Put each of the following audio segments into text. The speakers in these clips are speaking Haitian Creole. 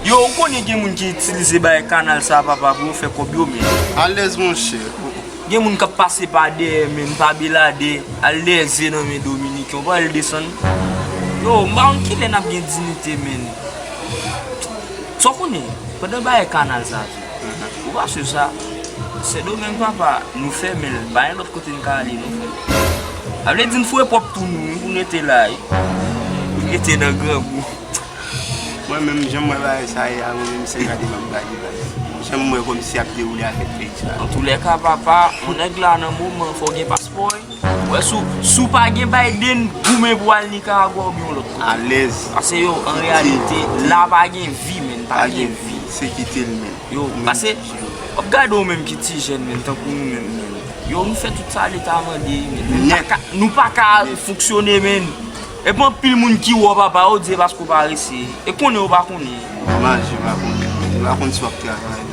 Yo ou konnen gen moun ki itilize bagay kanal sa papa pou yo fè kòb yo men. Alèz monchè oh. Gen moun kap pase pa dèyè menm pa belade al dèyè ze nan men dominiken ou pa wèl desann yo m pa konn kilè nap gen dinite menn sa w konnen pandan bagay kanal sa tou. Ou pa swiv sa? Sendomeng papa nou fèmenl pa gen lòt kote n ka ale non frèm. Sa vle di n foure pwòp twou nou wi pou n rete la wi. Pou n rete nan grangou. Mwen menm janm wè bagay sa ye a mwen menm se gade map gade la. Janm wè kòmsi ap dewoule avèk peyi sa. Antoulèka papa yon nèg la nan moman fòw gen paspò wi. Wè si w pa gen Biden, goumen pou al Nicaragua oubyen yon lòt kote. Alèz. Pase yo, an reyalite, la pa gen vi menn, pa gen vi. Se kite l menm. Yo, pase, w ap gade w menm ki ti jèn menm, tankou nou menm menm. Yo, nou fè tout sa leta mande menn. Nou pa ka, nou pa ka fonksyone menn. E pou anpil moun ki wè w papa, yo di se paske w pa resi. E konnen yo pa konnen. Nòmal, yo pa konnen. Yo pa konnen si w ap travay.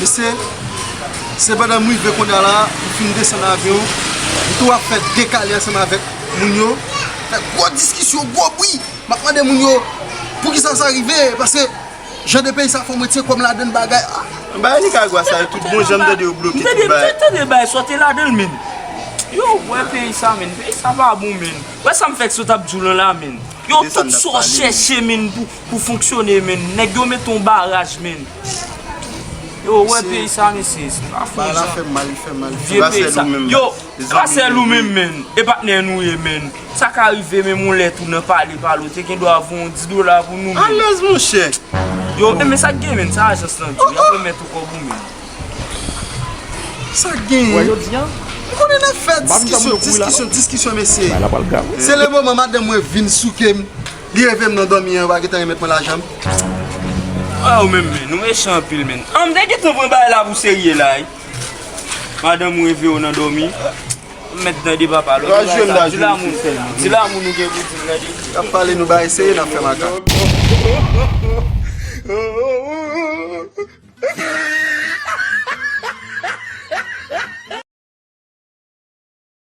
Mesye, se pandan m rive kounya la, m fin desann avyon, m tou ap fè dekale ansanm avèk moun yo, fè gwo diskisyon, gwo bri, m ap mande moun yo poukisa sa rive, pase jan de peyi sa fè w mwen tye kò m ladann bagay a. M bagay Nikagwa sa yo tout bon jan m tande yo bloke tout bagay. M tande bagay sa yo te ladan l menn. Yow m wè peyi sa menn, peyi sa pa bon menn. Wè sa m fè sot ap di w lan la menn. Yow tout sa w chèche menn pou. Pou fonksyone men nèg yo met yon baraj men yo wè peyi sa mesye se pa fon jan vye peyi sa yo grasè nou men men e patnè nou ye men sa ka rive men moun lè tou nan pale pale ou te gen dwa voun yon 10 dola pou nou men alèz monchè yo e men sak gen men sa ajans lan di yap remèt ou kòb ou men sak gen wè yo di an ou konnen nap fè diskisyon diskisyon diskisyon mesye se le moman madanm mwen vin souke m. Li revem nan domi an yo pa gentan remet mwen lajanm. Ah ou menm menn, ou mechan anpil menn. An m te gentan pran bagay la pou serye la wi. Madanm ou reveye'w nan dòmi. Ou mèt tande papa lòt bagay sa a di lanmou sèlman. Di lanmou nou gen pou di'm tande. Nap pale nou bagay serye nap fè makak.